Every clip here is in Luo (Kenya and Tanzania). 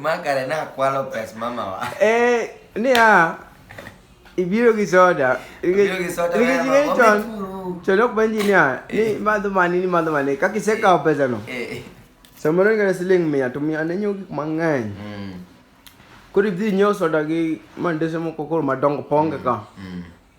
Makare na kwalo pes mama wa. Eh, ni a ibiro gi soda. Ibiro gi soda. Ni gi chon. Chon ok benji ni a. Ni eh. madho mani ni madho mani. Kaki se kawo pesa no. Eh. eh. Samoro ni ngana siling mia to mia ne nyogi mang'eny. Mm. Koro ibdhi nyiewo soda gi mandese moko koro madongo ponge ka. Mm. mm.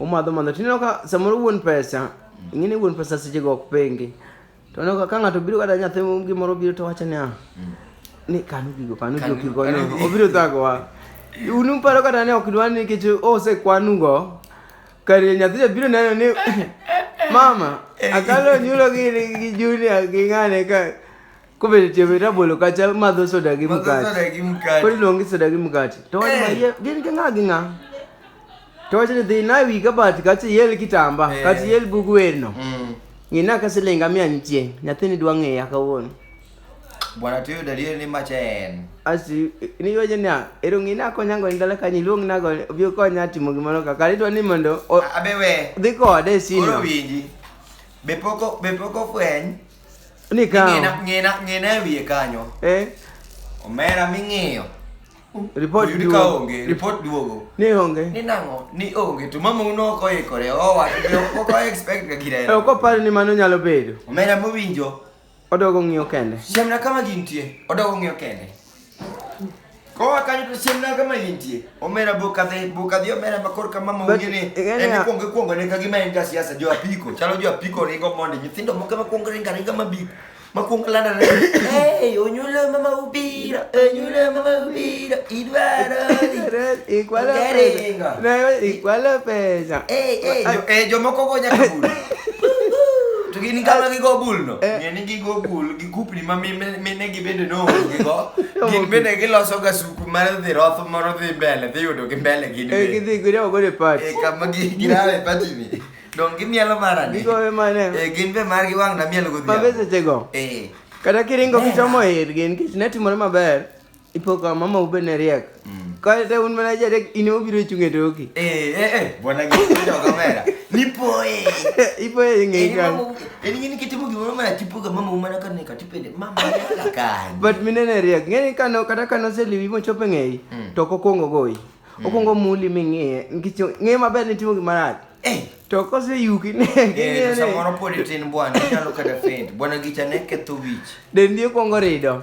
Umadho madho. Tineno ka samoro wuon pesa, ing'e ni wuon pesa seche go ok pengi. To neno ka ng'ato biro kata nyathi gimoro biro to wacho niya, mm. ni kanu gigo, kanu gigo kigonyo, obiro thagowa. Un uparo kata ni ok dwar ni nikech osekwanugo, kar nyathi cha biro neno ni mama, akalo nyulo gi Junior gi ng'ane ka Kumbe chebe tabolo kacha madho soda gi mkate. Soda gi mkate. Kodi longi soda gi mkate. To wani eh. maye gin kinga ginga. To wani dhi na wi kabati kacha yel kitamba, eh. kacha yel bugu werno. Mm. Ngina ka silinga mia nitie. Nyathini dwa ng'eya kawuono. Bwana tuyo dalie ni macha en. Asi ni yoje ni ero ngina konya ngo ndala kanyi luong na go bi konya timo gimoro kaka ritwa ni mondo abewe. Dhi kode sino. Oro winji. Be poko be poko fweny. Ni kawo. Ng'ena ng'ena ng'ena wiye kanyo. Eh. Omera ming'iyo. Report duogo. Ka onge, report duogo. Ni onge. Ni nango, ni onge. To mama uno ok oikore. Oh, wa, ok o expect ka gira. Eh, ok opar ni mano nyalo bedo. Omera mowinjo. Odogo ng'iyo kende. Siemna kama gintie. Odogo ng'iyo kende. Koa kanyo to siem na kama intie. Omera boka the boka the omera makor kama ma But, ungene. eh, En yeah. kuongo kuongo ne kagima en ka siasa jo apiko. Chalo jo apiko ringo monde nyithindo moko ma kuongo ringa ringa mabik. Ma kuongo landa ne. Hey, onyulo mama ubira, onyulo mama ubira, idwaro. dhi. Igual a Ongere pesa. inga. No, igual a pesa. Eh, eh, jo, eh, jomoko go nyaka bul. To gin kama gigo bul no. Eh. Ng'e ni gigo bul. kupni ma mine mine gi bende noonge go gin bende giloso ga suku mar dhi roth moro dhi mbele dhi yudo gi mbele gin Eh, be gidhi gidewo godo e pat. e kama gi girawe pati ni don gimielo mara ni Gigowe mane? e gin be margi wang' na mielo Mabe godhiambo sechego. eh Kata kiringo Eh. kichomo ir gin kich ne timore maber. Ipo ka mama ube ne riek. Mm. Ka te un mana jare ine obiro chung e toki. Eh eh eh bwana giko jo kamera. Nipo eh. Ipo eh ngi ka. Eni ngini kitimu gi mama tipu ka mama umana ka ne ka tipende mama la ka. But mine ne riek. Ngeni ka no kata ka no se liwi mo chope ngi. Mm. To ko kongo goi. Mm. Okongo muli mi ngi. Ngi ngi maber ni timu gi marach. Eh. To ko se yuki ne. Eh samoro podi tin bwana nyalo kada faint. Bwana gicha ne ketho wich. Dendi okongo rido.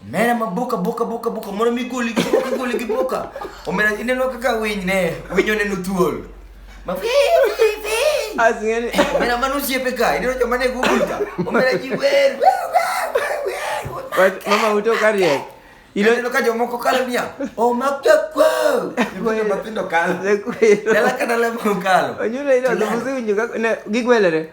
Mera maboka boka boka boka mondo mi goli gi boka goli gi boka. Omera ineno kaka winy ne winy oneno thuol. Ma fi fi fi. Asingeni. Omera mano osiepe ka ineno joma ne Google ka. Omera ji wer. Wach mama uto kariek. Ilo Ineno ka jomoko kalo niya. Oh makya kwao. Ibuno matindo kalo. Dala ka dala mokalo. Onyulo ilo Tulala. dhubusi winjo kaka ne gigwelere.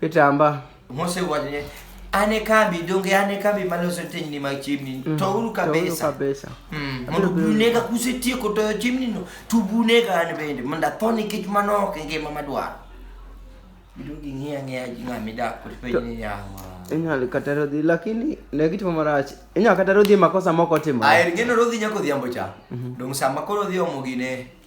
Itamba. Mose wacho ni an e kambi donge an e kambi maloso tenyni mag chiemni mm. to uru kabisa mm. mondo bunega kusetieko toyo chiemni no to bunega an bende mondo atho nikech mano ok e ngima madwaro giduogo ging'iya ng'iya ji ng'a midak kotipenjo ni yawa inyalo kata rodhi lakini ne gitimo marach inyalo kata rodhi makosa moko timo aer geno rodhi nyako odhiambo cha mhm. dong' sama koro odhi omo gine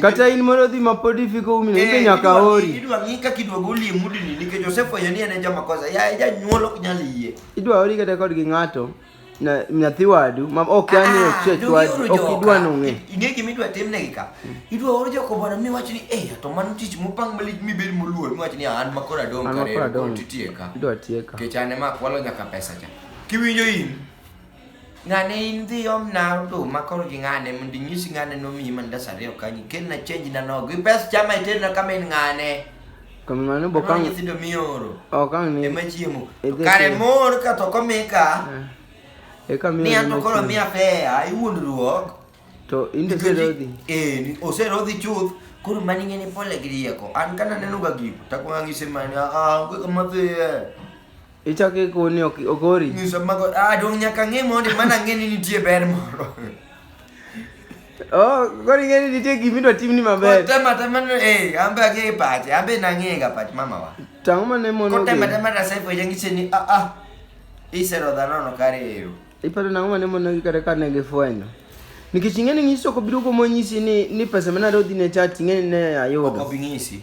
Kata in mondo odhi ma pod ifiko umi eh, be nyaka ori. Idwa ng'i kaka idwa goli e mudini nikech osefwenyo ni en e jama kosa. Ya e janyuol ok nyal yie. Idwa ori kata kod gi ng'ato na nyathi wadu ma ok yani ah, ochech wadu ok idwa nong'e. Ing'e gima idwa timnegi ka. Idwa oro joko bwana mi wach ni eh to mano tich mopang malich mi bed moluor mi wach ni ah, an ma kora dong kare. An ma kora dong. Idwa tieka. Kech an ema akwalo nyaka pesa cha. Kiwinjo in Ng'ane in dhi omna oduma koro gi ng'ane mondo inyisi ng'ane nomiyi mandas ariyo kanyo ikelna chenji na nogo gi pes chama iterna kama in ng'ane Kamano bo kang nyithindo mioro okang ni ema chiemo kare mor ka to komika eh, eka mi ni anto koro mi afea iwuondruok to inde serodhi eh oserodhi chuth koro mani ng'eni pole gi rieko an kana neno ga gigo takwang'ise mani ah, ah onge kama dhiye Ichako ikoni ok ogori. Nyisa mago ah dong nyaka ng'e mondi mana ng'e ni nitie ber moro. Oh, koro ing'e ni nitie gima idwa timni maber. Kotema tema ni eh ambe ang'e pache, ambe nang'e ga pach mama wa. To ang'o ma ne mono Kotema ogeni? tema rasa ipo yangiche ni ah ah. Isero dhano no kare ero. Iparo nang'o ma ne monogi kata ka ne gifwenyo? Nikech ing'e ni ng'isi ok obiro kuom onyisi ni ni pesa ma nadwa dhi ne chat ing'e ni ne Ok ayudo. obi ng'isi.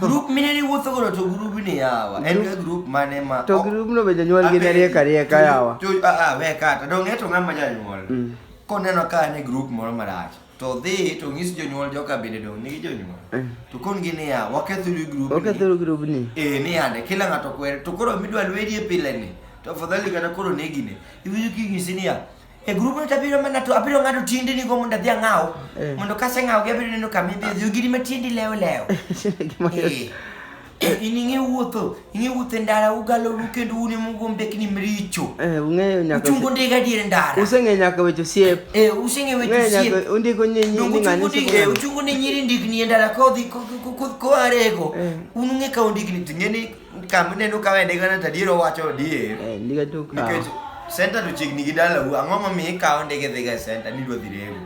Grup mine ni wuotho godo to grup ni yawa. En ga grup mane ma To grubno be jonyuol gi ne rieka rieka yawa. To a a we kata dong e to ng'ama janyuol. Mm. Koneno ka en e grup moro marach. To dhi to ng'is jonyuol joka bende dong nigi jonyuol. Mm. To kon gi ni yawa waketho gi grup. Ok ni. athoro grubni. Eh ni ande kila ng'ato kwere to koro midwa lwedi e pile ni. To afadhali kata koro negine. Iwinjo king'isi niya E grup ni tabiro mana to abiro ng'ado tiendeni go mondo adhi ang'aw. Eh. Mondo kase ng'aw gi abiro neno kama idhi odhi ogiri ma tiendi lewo lewo. Gima yot. Eh. Eh, In ing'e wuotho, ing'e wuotho e ndara ugalo ru kendo un ema ugo mbekni mricho. Eh, ung'eyo nyaka Uchungo ndiga dier ndara. useng'eyo nyaka weche osiep Eh, useng'e weche Ung'eyo nyaka- osiepe. undiko nyi- nyi- Donge ni ng'ane uchungo osiepe ndiga- eh, ng'ane. uchungo ne nyiri ndigni e ndara kodhi ko- ko- ko- ko- koarego. Eh. Un ung'e ka undigni to ing'e ni Kama uneno ka wende gana tadier owacho adier. Eh, ndiga to ka. Nikech center to chiegni gi dalau, ang'o momiyo ikawo ndege dhiga e center ni idwa dhi rego?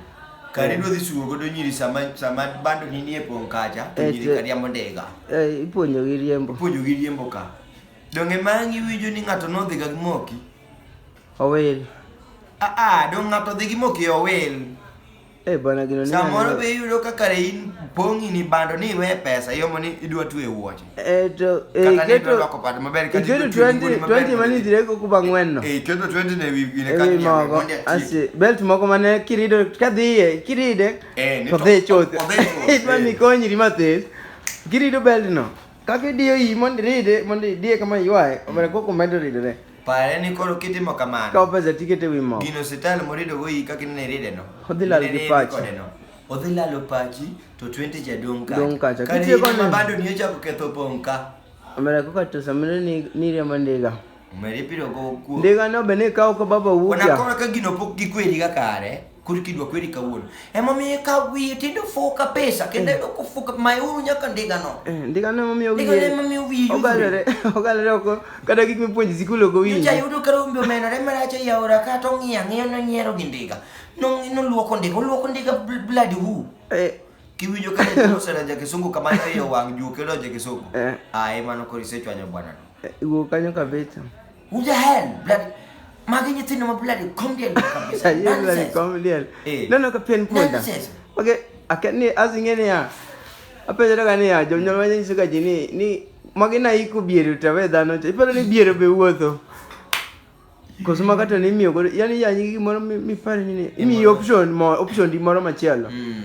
Kari idwa dhi sugo godo nyiri sama sama bando ni nie pong' kacha, to Eh, nyiri to- kariambo ndiga. Eh, ipuonjo gi riembo. Puonjo gi riembo ka. Donge mang' iwinjo ni ng'ato nodhiga gi moki? Owil. Ah ah, dong' ng'ato dhi gi moki e owil. Eh bana gino ni. Samoro be yudo ka kare in pongi ni bando ni we pesa yo mani idwa tu e wuoche. Eh to eh keto loko pad maber ka keto 20 20 mani dire ko ku bangwen no. Eh keto 20 ne wi ne ka ni mogo. Asi belt mogo mane kirido ka dhiye kiride. Eh ni to. Odhe choth. Odhe choth. Idwa ni konyi ri mathes. Kirido belt no. Kaka idiyo iyi mondo iride mondo idiye kama iywaye, omedo koko medo ridore. Pare ni koro kitimo kamano. Kaw pesa tikete wi mo. Gino sital morido go iyi kaka inene iride no. Odhi lal gi pachi. Odhi lalo pachi to 20 ja dong kacha. Dong kacha. Kani Kitiyo koni. Mabado ni ochako ketho pong ka. Omedo koko to samiro ni ni riambo ndiga. Omedo ipiro go kuo. Ndiga no be ni kaw ko baba wuja. Ona koro ka gino pok gikwedi ga kare. Koro kidwa kweri kawuono. Ema miyo ka wiye tindo fuka pesa kendo yudo kufuka mayuru nyaka ndiga no. Eh, ndiga no miyo wiye. Ndiga no miyo wiye. Ogalore, ogalore oko kata gik mipuonjo sikul ogo wiye. Nyocha yudo ka rombe omenore marach e yaora ka to ng'iya ng'iyo no nyiero gi ndiga. No no luoko ndiga, luoko ndiga blood who. Eh. Kiwinjo ka nyocha osera ja kisungu kama ne yo wang' juke lo ja kisungu. Eh. Ah, emano korisecho anyo bwana. Eh, wuok kanyo kabisa. Who the hell? Bloody. Magi nyithindo ma bloody comedian kabisa. Ayie bloody Nonsense. comedian. Eh. Neno ka pien punda. Nonsense. Okay, akani azinge ni ya. Apenjore ka ni ya jonyuol ma nyiso ka ji ni ni magi na iko biero to we dhano. cha. Iparo ni biero be wuotho. Koso ma kata ni miyo godo. Yani ya nyigi gimoro mi- mipare ni ni. Imiyo option mo option di moro machielo. Mm.